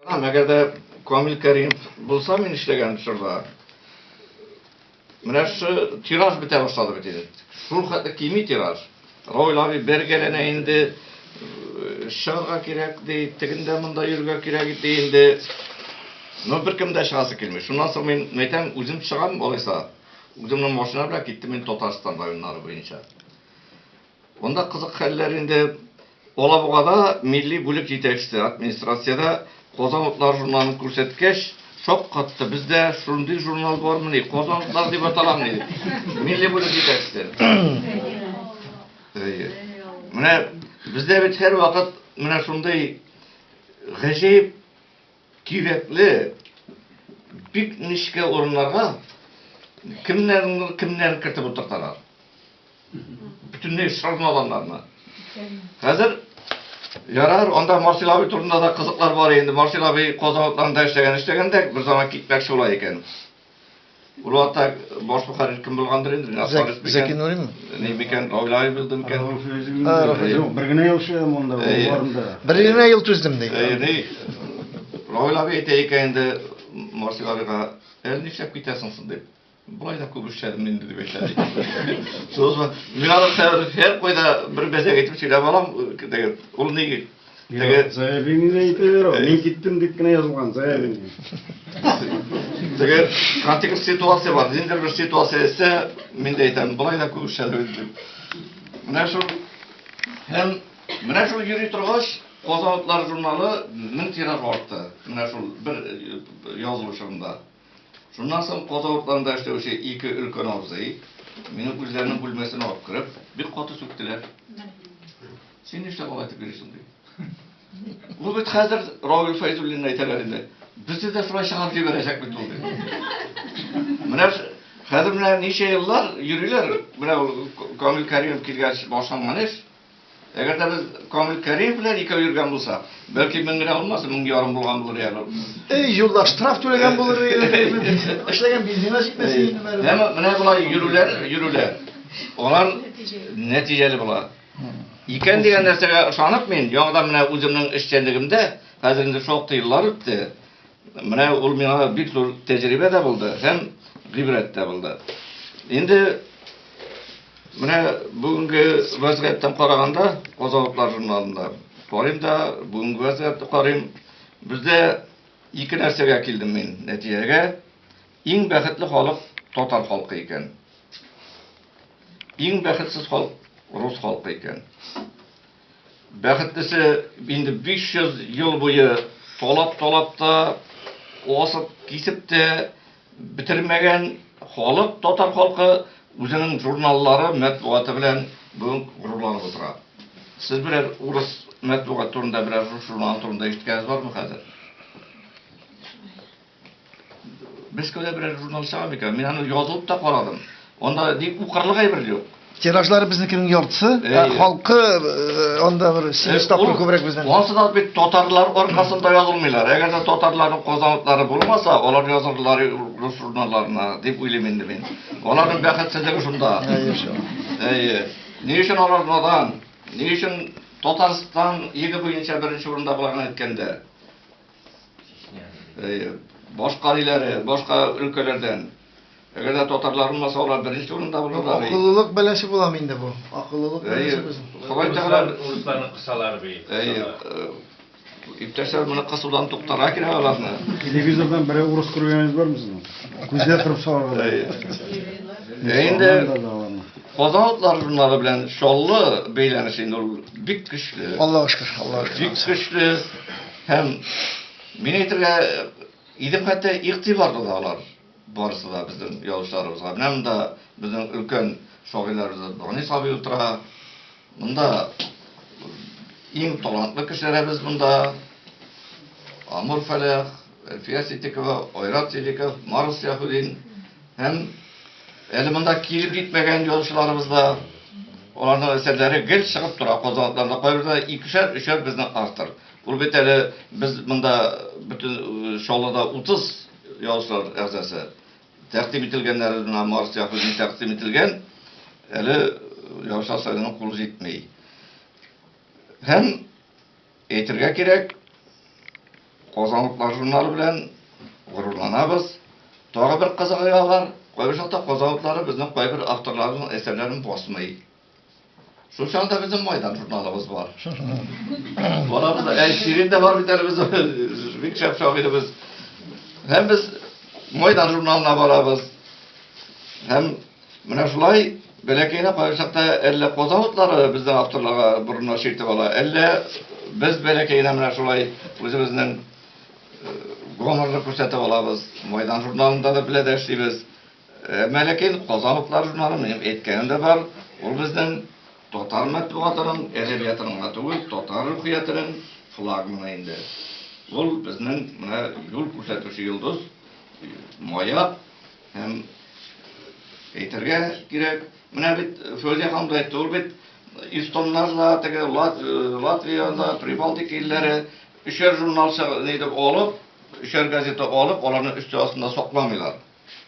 Әгәр дә Камил Кәримов булса, мин эшләгән чорда, менә шушы тираж бетә башлады бит инде. Шул хәтле кими тираж. Равил абый бергәләнә инде, чыгарга кирәк ди, тегендә монда йөрергә кирәк ди инде. Но беркем дә чыгасы килми. Шуннан соң мин әйтәм, үзем чыгам, алайса. Үземнең машина белән киттем мин Татарстан районнары буенча. Монда кызык хәлләр инде Алабугада милли бүлек җитәкчесе администрациядә Казан утлары журналын күрсәткәч, шаккатты. Бездә шундый журнал бармыни? Казан утлары дип аталамыни? дип. Милли бүлек җитәкчесе. Әйе. Менә бездә бит һәрвакыт менә шундый гаҗәеп Кирәкле бик нечкә урыннарга кемнәрнедер кемнәрен кертеп утырталар. Бөтенләй шармаганнарны. Хәзер ярар, анда Марсел абый турында да кызыклар бар инде. Марсел абый Казан утларында эшләгән, эшләгәндә бер заман китмәк шулай икән. Уралда баш мөхәррир кем булгандыр инде? Зәк, Зәки Нурин ми? Ни микән, Гауляев булды микән? Юк, бер генә ел эшләгән монда, барында. Бер генә ел түздем ди. Ни? Равил абый әйтә икән инде Марсил абыйга, "Әле нишләп китәсең соң?" дип. Болай да күп эшләдем инде дип әйтә. Соң мин аны һәр кайда бер мәзәк итеп сөйләп алам, диген. Ул ни? Теге заявление дә әйтә бер ул. Мин киттем дип кенә язылган заявление. Теге кратик бер ситуация бар. Ниндидер бер ситуация әйтсә, мин дә әйтәм, болай да күп эшләдем дип. Менә шул һәм менә шул йөри торгач, Казан утлары журналы мең тираж артты. Менә шул бер язылу чорында. Шуннан соң Казан утларында эшләүче ике өлкән абзый мине үзләренең бүлмәсенә алып кереп, бик каты сүктеләр. Син нишләп алай итеп йөрисең, ди. Ну бит хәзер Равил Фәйзуллин әйтәләр инде. Безне дә шулай чыгарып җибәрәчәк бит ул, ди. Менә хәзер менә ничә еллар йөриләр, менә ул Камил Кәримов килгәч башланган эш. Әгәр дә без Камил Кәримов белән икәү йөргән булсак, бәлки мең генә булмаса, мең ярым булган булыр иде ул. Эй, юлда штраф түләгән булыр иде. Эшләгән бензина җитмәс иде инде бары. Әмма менә болай йөрүләр, йөрүләр. Алар нәтиҗәле була. Икән дигән нәрсәгә ышанып мин, яңадан менә үземнең эшчәнлегемдә, хәзер инде шактый еллар үтте, менә ул миңа бик зур тәҗрибә дә булды һәм гыйбрәт тә булды. Инде менә бүгенге вәзгыятьтән караганда, Казалыклар журналында карыйм да, бүгенге вәзгыятьне карыйм. Бездә ике нәрсәгә килдем мин нәтиҗәгә. Иң бәхетле халык татар халкы икән. Иң бәхетсез халк рус халкы икән. Бәхетлесе инде 500 ел буе талап-талап та, асып, кисеп тә бетермәгән халык татар халкы үзенең журналлары, мәтбугаты белән бүген горурланып утыра. Сез берәр урыс мәтбугаты турында, берәр рус журналы турында ишеткәнегез бармы хәзер? Мәскәүдә берәр журнал чыга микән? Мин аны язылып та карадым. Анда ни укырлык әйбер юк. Тиражлары безнекенең яртысы, ә Әйе. халкы э, анда бер 8 тапкыр Ул- күбрәк безнең. Ансы да бит татарлар аркасында язылмыйлар. Әгәр дә татарларның казанлыклары булмаса, алар язылырлар рус журналларына, дип уйлыйм инде мин. Аларның бәхетсезлеге шунда. Әйе, шул. Әйе. Ни өчен алар надан? Ни өчен Татарстан еге буенча беренче урында боларны әйткәндә? Э, баш кариләре, башка өлкәләрдән. Әгәр дә татарлар булмаса, алар беренче урында булырлар. Акыллылык бәлеше була инде бу. Акыллылык бәлеше без. Ходай Тәгалә урысларны кысалар бит. Әйе. Э, иптәшләр моны кысудан туктара кирәк аларны. Телевизордан берәү урыс күргәнегез бармы сезнең? Күзгә кырып салырга. Әйе. Инде Казанлыклар журналы белән Чаллы бәйләнеше инде ул бик көчле. Аллаһ шөкер, Аллаһ шөкер. Бик көчле. Һәм мин әйтергә идем хәтта игътибарлы да алар барысы да безнең язучыларыбызга. Менә монда безнең өлкән шагыйларыбыз Бани Саби утыра. Монда иң талантлы кешеләребез монда. Амур Фәләх, Әлфия Ситикова, Айрат Сидиков, Марс Яхудин һәм әле монда килеп китмәгән язучыларыбыз да аларның әсәрләре гел чыгып тора. Казанлыкларда кайберләре икешәр, өчәр безнең автор. Ул бит әле без монда бөтен Чаллыда 30 язучылар әгъзасы. Тәкъдим ителгәннәр менә Марс Яхудин тәкъдим ителгән. Әле язучылар советының кулы җитми. Һәм әйтергә кирәк, Казанлыклар журналы белән горурланабыз. Тагы бер кызыгы бар, кайбер чакта казанлыклары безнең кайбер авторларның әсәрләрен басмый. Шул чагында безнең Майдан журналыбыз бар. Балабыз, әй, Ширин дә бар бит әле безнең, бик шәп шагыйребез. Һәм без Майдан журналына барабыз. Һәм менә шулай бәләкәйне кайбер чакта әллә коза утлары безнең авторларга борынына чиртеп ала, әллә без бәләкәйне менә шулай үзебезнең гонорны күрсәтеп алабыз. Майдан журналында да беләдә эшлибез. Мәләкәй Казан утлары журналын минем әйткәнем дә бар. Ул безнең татар мәтбугатының, әдәбиятының гына түгел, татар рухиятенең флагманы инде. Ул безнең менә юл күрсәтүче йолдыз, маяк һәм әйтергә кирәк, менә бит Фәүзия ханым да әйтте, ул бит эстоннарда, теге Латвиядә, Прибалтика илләре өчәр журнал чыгарды, нидер алып, өчәр газета алып, аларны өсте астында сакламыйлар.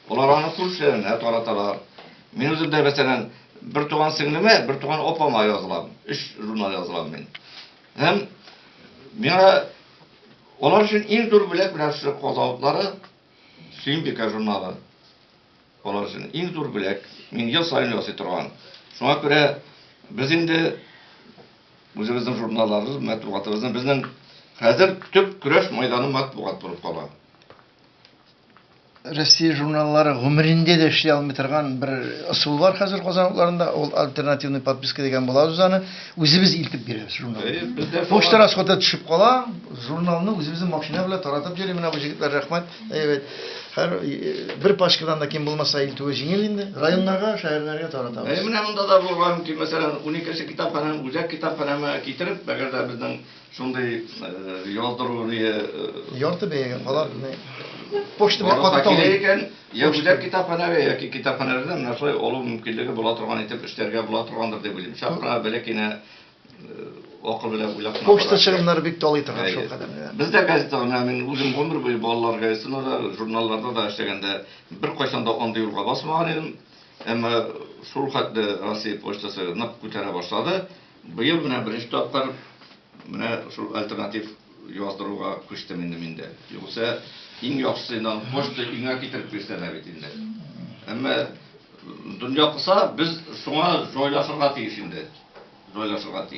Алар аны күршеләренә тараталар. Мин үзем дә, мәсәлән, бертуган сеңлемә, бертуган апама язылам. Өч журнал язылам мин. Һәм миңа алар өчен иң зур бүләк менә шушы казавытлары, Сөембикә журналы. Алар өчен иң зур бүләк. Мин ел саен ясый торган. Шуңа күрә без инде үзебезнең журналларыбыз, матбугатыбызны безнең хәзер төп көрәш мәйданы матбугат булып кала. Россия журналлары гомерендә дә эшли алмый торган бер ысул бар хәзер Казан утларында. Ул альтернативный подписка дигән була үз аны. Үзебез илтеп бирәбез журналны. Э, Почта расходы төшеп кала, журналны үзебезнең машина белән таратып йөри менә бу җегетләр рәхмәт. Әйбәт. Хәр э, бер пачкадан да ким булмаса илтүе җиңел инде. Районнарга, шәһәрләргә таратабыз. Әй менә монда да булган ки, мәсәлән, 12 нче китапханәнең үзәк китапханәмә китереп, әгәр дә безнең Шундый яздыру ни ярты бәягә алар почта белән катып килә икән, я үзәк китапханәгә яки китапханәләрдә менә шулай алу мөмкинлеге була торган итеп эшләргә була торгандыр дип уйлыйм. Чак кына бәләкәйне акыл белән уйлап кына. Почта чыгымнары бик талый торган шул кадәр. Бездә газетага менә мин үзем гомер буе балалар газетасында да, журналларда да эшләгәндә беркайчан да андый юлга басмаган идем. Әмма шул хәтле Россия почтасы нык күтәрә башлады. Быел менә беренче тапкыр менә шул альтернатив яздыруга күчтем инде мин дә. Югыйсә, иң яхшысы инде аны почта өеңә китереп бирсәләр бит инде. Әмма дөнья кыса, без шуңа җайлашырга тиеш инде. Җайлашырга тиеш.